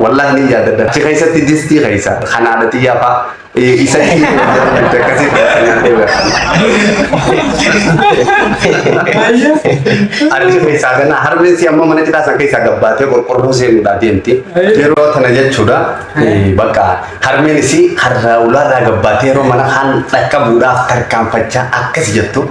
Wallahi ni yaadadha. Achi keessatti distii keessa kan haadha xiyyaa faa isa Achi keessaa kana harmeessi amma mana cidhaa san keessaa gabbaatee qorqorroo seenuudhaa deemti. Yeroo tana jechuudha bakka harmeen isii harraa ulaarraa gabbaatee yeroo mana kaan dhaqqabuudhaaf tarkaanfachaa akkas jettu.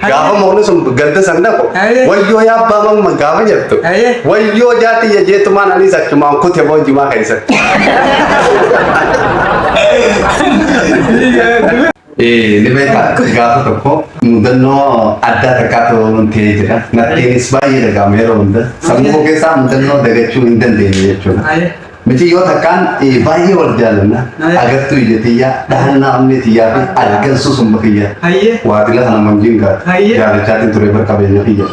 Gaafa moonni sun gadda san dhaqu Aye. wayyoo yaa abbaa mamma gaafa jettu Aye. wayyoo jaati ya jeetumaan anis achumaan kute boo jimaa keessatti. Eh, ni beekaa gaafa tokko mudannoo addaa takkaatu ta'ee jira. Nattiinis baay'ee dhaga'ama yeroo hunda. Sammuu koo keessaa mudannoo dagachuu hin dandeenye jechuudha. Aye. Miciyyoo takkaan baay'ee wal jaalanna agartuu ija tiyyaa dhahannaa onnee tiyyaa fi argansuu sumba kiyya waatila kana manjiin gaata jaalachaatiin ture bar qabeenya kiyya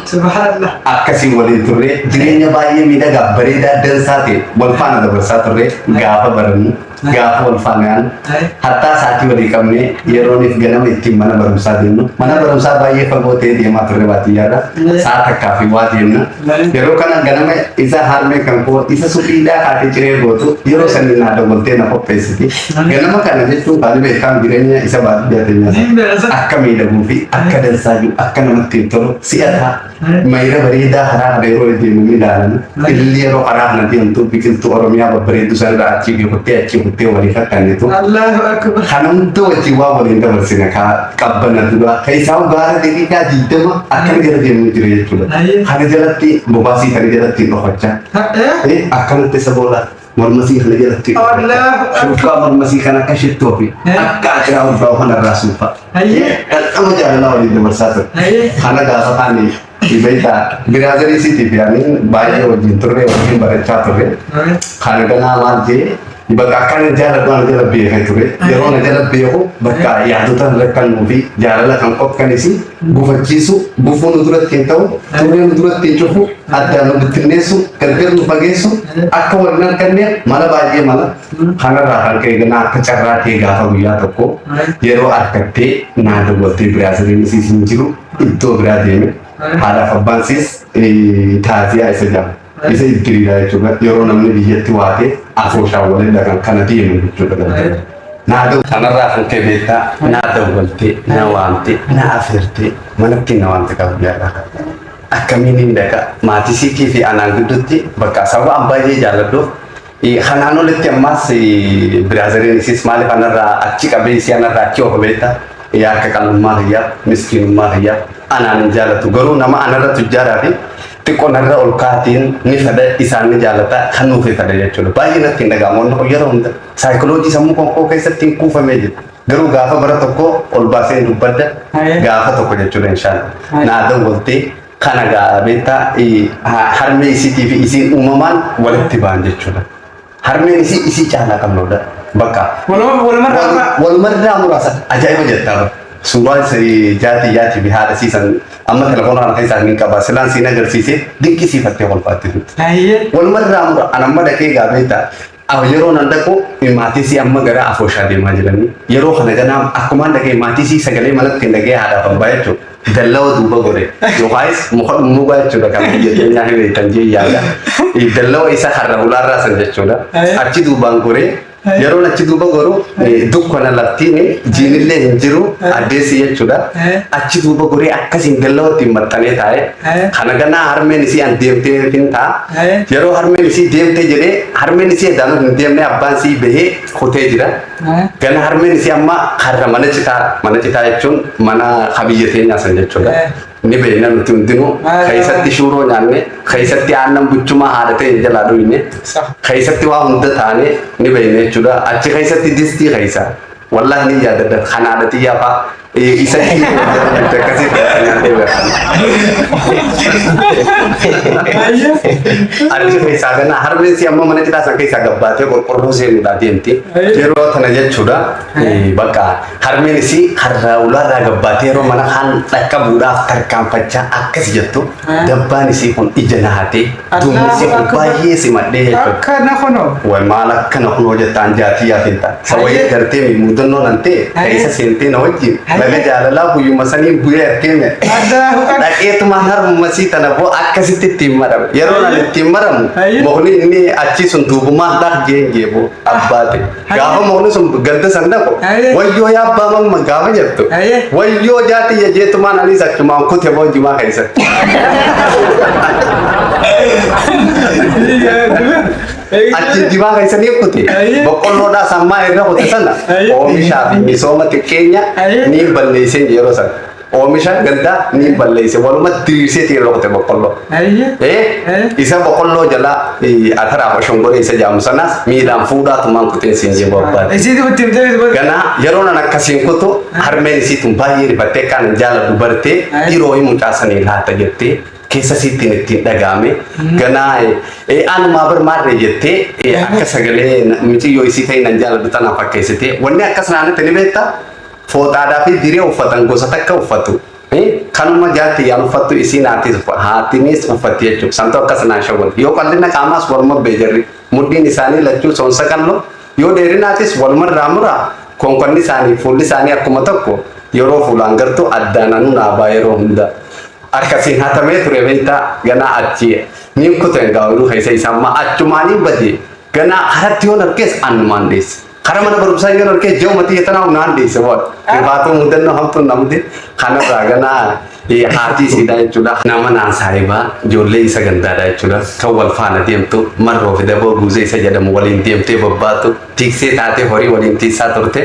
akkasiin waliin turre jireenya baay'ee miidhagaa bareedaa dansaa ta'e wal faana dabarsaa turre gaafa barannu gaafa wal faanaan hattaa saatii walii qabne yerooniif ganama ittiin mana barumsaa deemnu mana barumsaa baay'ee fagoo ta'e deemaa turre baadiyyaarra saa takkaa fi waa deemna Yeroo kana ganama isa harmee kan koo isa suphiidhaa haati ciree gootu yeroo san naa dogoltee na qopheessiti. Ganama kana jechuun kan beekamu jireenya isa baadiyyaa keenyaa akka miidhaguu fi akka dansaa jiru akka namatti hin tolu si'ataa mayira bareedaa haraa kana yeroo deemu ni ilaalama. Ililli yeroo haraa kana deemtu biqiltuu Oromiyaa babbareedduu sana irraa achii kuttee achii kuttee waliif akka kennitu. Kana hunda wajjin waan waliin dabarsine kaa qabbana duraa keessaa gaara xixiqqaa digdama akkana jala deemuu jira jechuudha. Ayyee. Kana jalatti bobaasii kana jalatti dhokachaa. Ta'ee. Eh, akkanatti isa booda mormasii kana jalatti Allahu Akbar. shurfaa mormasii kana akka shittoo fi Eh. akka akiraa ulfaa kanarraa suufa. Ayyee. Dhaqama jaalalaa waliin dabarsaa ture. Ayyee. Kana gaafa taane Beektaa biraazarii siiti fi ani baay'ee wajjin turre wajjin barachaa turre. Kan ganaa maal jee bakka akka inni jaalatu ana jala beekee ture. Yeroo na jala beeku bakka yaadota hin rakkannuu fi jaalala kan qophanis gufachiisu gufuu nu duratti hin ta'u turree nu duratti hin cufu addaan nu bittinneessu gargar nu fageessu akka wal hin arganne mala baay'ee mala kanarraa kan ka'e ganaa akka carraa ta'e gaafa guyyaa tokko yeroo argattee naa dawwattee biraazariin isiis hin jiru. iddoo biraa deeme haadhaaf abbaan siis taaziyaa isa jedhama. Isa iddiriidha jechuudha. Yeroo namni biyyatti waatee afooshaan walirra kan kana deemu jechuudha galgala. Naa da'u kanarraa kan ka'e beektaa naa dawwaltee na waamtee na afeertee manatti na waamte qabu yaadha. Akkamiin hin dhaqa maatisiitii fi anaan gidduutti bakka sababa an baay'ee jaalladhuuf Kanaan olitti ammaas biraazariin isiis maaliif anarraa achi qabee isii anarraa achi oofa beekta yaa akka qal'ummaa kiyyaa miskiinummaa kiyyaa anaan hin jaalatu garuu nama anarra tujjaaraa fi xiqqoo narra ol kaatiin ni fada isaan ni jaalata kan nuuf fada jechuudha baay'ee natti hin dhaga'amu wanni kun yeroo hunda saayikoloojii sammuu qonkoo keessatti hin kuufamee jira garuu gaafa bara tokko ol baasee hin dubbadda Ayee. gaafa tokko jechuudha inshaalla Ayee. naa dawwaltee Kana gaa beektaa harmee isiitii fi isiin uumamaan walitti ba'an jechuudha. Harmeen isii isii caalaa qalloodha. Bakka. Walumarraa muraasa ajaa'iba jettaa bara. Suuraa jaati jaati fi haadha siisan amma telefoona kana keessaa hin qaba. Silaan siin agarsiisee dinqisiifattee kolfaatti turte. Walumarraa mura an amma dhaqee gaa beektaa Aw yeroo nan dhaqu maatiisii amma gara afooshaa deemaa jiranii yeroo kana ganaa akkumaan dhaqee maatiisii sagalee manatti hin dhagee haadhaaf abbaa jechuun dallawa duuba godhe yookaayis muka dhummuugaa jechuudha kan biyya keenyaa hin beektan jee yaada dallawa isa har'a hulaarraa san jechuudha achi duubaan goree yeroon achi duuba goru dukkana laftiin jiinillee hin jiru addeessi jechuudha achi duuba goree akkasiin dallawatti hin maxxanee taa'e kana ganaa harmeen isii an deemtee hin ta'a Yeroo harmeen isii deemtee jedhee harmeen isii eddaanuu hin deemne abbaan isii bahee kutee jira. Gana harmeen isii amma karra mana citaa mana citaa jechuun mana kabiyya teenyaa san jechuudha. Ni beekna nuti hundinuu keessatti shuuroo nyaanne keessatti aannan buchumaa haadha ta'e jalaa dhuyne keessatti waa hunda taane ni beekna jechuudha. Achi keessatti distii keessa Wallahi ni yaadaddan kan haadha tiyyaa faa isa hin akkasii nyaatee beekan. Achi keessaa ganaa harmeessi amma mana citaa san keessaa gabbaatee qorqorroo seenuudhaa deemti. Yeroo tana jechuudha bakka harmeen isii harraa ulaarraa gabbaatee yeroo mana kaan dhaqqabuudhaaf tarkaanfachaa akkas jettu. Dabbaan isii kun ija na hatee duumni isii kun baay'ee simadhee jechuudha. Akka na kunoo. Way maal akka na kunoo jettaan jaatii yaa fintaa. Isa wayii agartee mi muudannoon antee keessa seentee na wajjin laga jaalalaa guyyuma sanii bu'ee artee mi dhaqeetumaan harmuma sii tana boo akkasitti ittiin marame. Yeroo nan ittiin maramu mukni inni achii sun duubumaan dhaq jeen jeeboo abbaate. Gaafa moonni sun gadda san dhaqu Aye. wayyoo yaa abbaa mamma gaafa jettu Aye. wayyoo jaatiyya jeetumaan anis achumaan kute boojumaa keessatti. Achi jimaa keessanii kute Aye. boqqolloodhaa sammaa irra kute sana Aye. oomishaa fi misooma xiqqeenya Aye. ni balleesseen yeroo sana. Oomisha gandaa ni balleesse. Waluma diriirsee tiin rukute boqqolloo. Ayyi. Eh, isa boqolloo jalaa eh, ataraaf ashongoree isa jaamu sanas miilaan fuudhaa tumaan kuteen siin jee barbaade. Isiitu itti himtee itti godhe. Ganaa yeroo nan akkasiin kutu harmeen isii tun baay'ee rifattee kan jaala dubartee Ayi. dhiiroo hin mucaasanii laata jettee keessa isiittiin ittiin dhagaame ganaa eh, anumaa bar maarree jettee eh, akka sagalee na- miciyyoo isii ta'e nan jaaladhu tanaa fakkeessitee wanni akkas naannatti ni beektaa Fooxaadhaa fi diree uffatan gosa takka uffatu. Kanuma jaartiyyaan uffattu isiin haatiis haatinis uffatti jechuudha. Santu akkas naa shawwade. Yoo qal'ina qaamaas waluma bee jarri. Mudhiin isaanii lachuu soonsa qal'oo. Yoo dheerinaatis walumarraa muraa. Konkonni isaanii fuulli isaanii akkuma tokko. Yeroo fuulaan gartuu addaan anuu naa baa yeroo hunda. Akkasiin hatamee ture beektaa ganaa achi niin kuten gaa'iluu keessa isa ammaa achumaaniin badee ganaa haratti yoon argees annumaan dheesse. Kara mana barumsaa yoo narkee ji'uma xiyya tanaa humnaan dhiise waan. Dhibaatuu mudannoo hamtuun na mude kanarraa ganaa haatii siidaa jechuudha. Nama naan saahibaa ijoollee isa gandaadha jechuudha. Kan wal faana deemtu marroo fi daboo guuzee isa jedhamu waliin deemtee bobbaatu tiiksee taatee horii waliin tiisaa turte.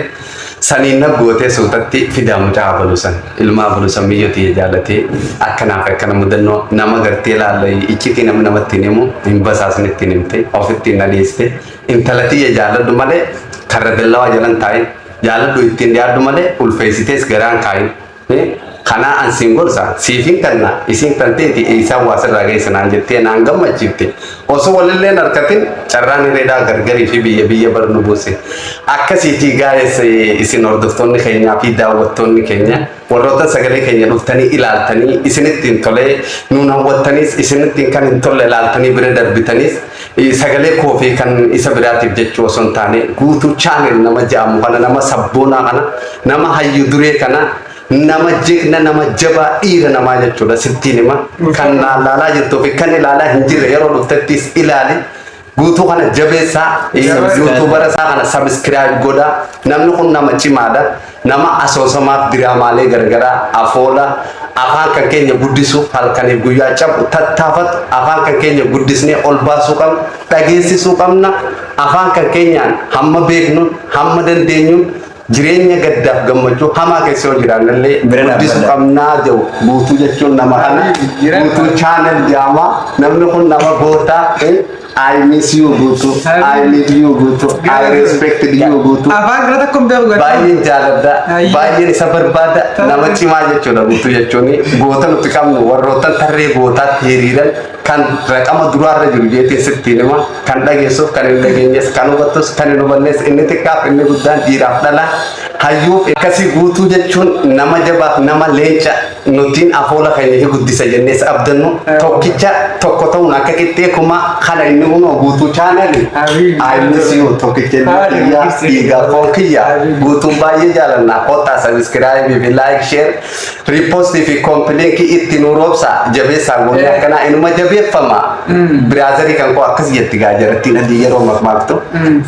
Saniin nab gootee suutatti fidaa mucaa abalu san. Ilmaa abalu san miyyoo tiyya jaalatee akkanaaf akkana mudannoo nama gartee laalla iccitii namni namatti hin himu hin basaasni ittiin himte ofitti hin dhadheessite. Intala tiyya jaalladhu malee karra billawaa jala hin taa'in. Jaalladhu ittiin dhiyaadhu malee ulfeessitees garaa hin kaa'in. Kanaa an siin gorsa siif hin kenna isiin kan teeti eeysaan waa sirraa geessa naan jettee naan gammachiifte. Osoo walillee hin arkatin carraan hireedhaa gargarii fi biyya biyya bar nu buuse. Akkasiitii gaa'eessa isin hordoftoonni keenyaa fi daawwattoonni keenya. Warroota sagalee keenya dhuftanii ilaaltanii isinitti hin tolee nuun hawwattaniis isinitti kan hin tolle ilaaltanii bira darbitaniis sagalee koo fi kan isa biraatiif jechuu osoo hin taane guutuu chaanel nama ja'amu kana nama sabboonaa kana nama hayyu duree kana nama jigna nama jabaa dhiira namaa jechuudha sittiin hima kan laalaa jirtuu fi kan ilaalaa hin jirre yeroo dhuftettiis ilaali Guutuu kana jabeessaa yuutuubara isaa kana sabiskiraayib godhaa. Namni kun nama cimaadha. Nama asoosamaaf diraamaalee garagaraa afoola afaan kan keenya guddisuuf halkaniif guyyaa cabu tattaafatu afaan kan keenya guddisnee ol baasuu qabna dhageessisuu qabna afaan kan keenyaan hamma beeknuun hamma dandeenyuun Jireenya gaddaaf gammachuu hamaa keessa yoo jiraannallee Bira dhaabbadha. guddisuu qabnaa jedhu guutuu jechuun nama kana Jira. guutuu chaanal jaama namni kun nama gootaa eh, I miss you guutuu I need you guutuu I respect you guutuu Afaan kana tokko hin beeku garuu. baay'een jaaladha Ayyi. baay'een isa barbaada nama cimaa jechuudha guutuu jechuun goota nuti qabnu warroottan tarree gootaatti hiriiran kan raqama duraarra jiru jeetee sittiin hima Kan dhageessuuf kan hin dhageenyes kan hubattus kan hin hubannes inni xiqqaaf inni guddaan dhiiraaf dhala hayyuuf akkasii guutuu jechuun nama jabaaf nama leenca nutiin afoola keenya hin guddisa jennees abdannu tokkicha tokko ta'uun akka qixxee kuma kana inni unoo guutuu chaanali aayilisiyu tokkicha inni kiyyaa dhiigaa foon kiyyaa guutuun baay'ee jaalanna kottaa sabiskiraayibii fi laayik sheer Riippoostii fi koompiliinkii itti nu roobsa jabeessaa goonee akkanaa inuma jabeeffama. Biraazarii kan koo akkas jetti gaa jarattiin adii yeroo makmaaktu.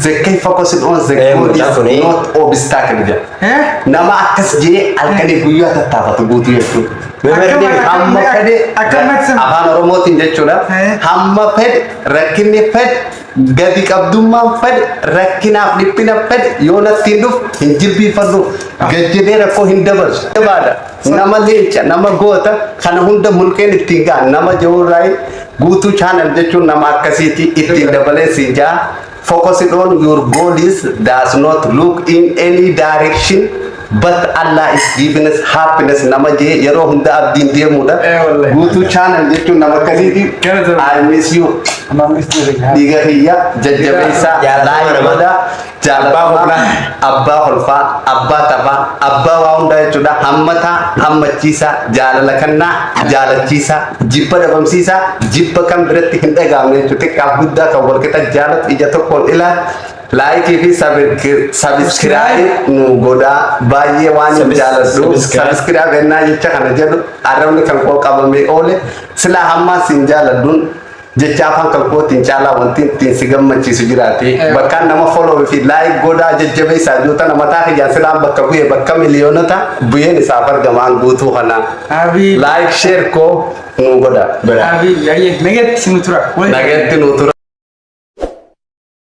Zekkee fokos hin oon zekkoo Eh, mucaa is kuni. not obstacle jedha. Nama akkas jee halkanii guyyaa tattaafatu guutuu jechuudha. Memerdi Hamma fedhe Akkamatti sana. afaan oromootiin jechuudha. Eh. Hamma fedhe rakkinni fedhe Gati qabdummaan fedhe rakkinaaf dhiphina fedhe yoo natti hin dhufu hin jilbiifadhu gad jedhee rakkoo hin dabarsu. Jabaadha nama leenca nama goota kana hunda mulqeen ittiin ga'a nama jawurraa'ee guutuu channel jechuun nama akkasiiti ittiin dabalee siin ja'a. Focus on your goal is does not look in any direction But Allah is giving us happiness nama jee yeroo hunda abdiin deemuudha. Eh, wallahi. Guutuu channel jechuun nama akkasiiti. Kana ta'u. I miss you. Amaamis jireenya haa. Dhiiga kiyya jajjabeessaa Jaalatamaa laayii nama. godhaa Abbaa jaalatamaa humnaa. abbaa holfaa abbaa taphaa abbaa waa hundaa jechuudha hammataa hammachiisaa jaalala kannaa jaalachiisaa jibba dhabamsiisaa jibba kan biratti hin dhagaamne jechuudha xiqqaaf guddaa kan walqixa jaalatu ija tokkoon ilaal Laayikii fi sabiskiraayi nu godhaa baay'ee waan hin jaaladhu sabiskiraa bennaa jecha kana jedhu arrabni kan koo qabamee oole silaa hammaa siin jaaladhuun jecha afaan kan kootiin caalaa wanti ittiin si gammachiisu jiraate bakkaan nama follow fi laayik godhaa jajjabeessaa jootana mataa kiyyaan silaan bakka bu'e bakka miliyoonota bu'een isaaf argamaan guutuu kana Abii. laayik sheer koo nu godhaa. Abii, ayyee, nageetti nu tura. Waliin. Nageetti nu tura.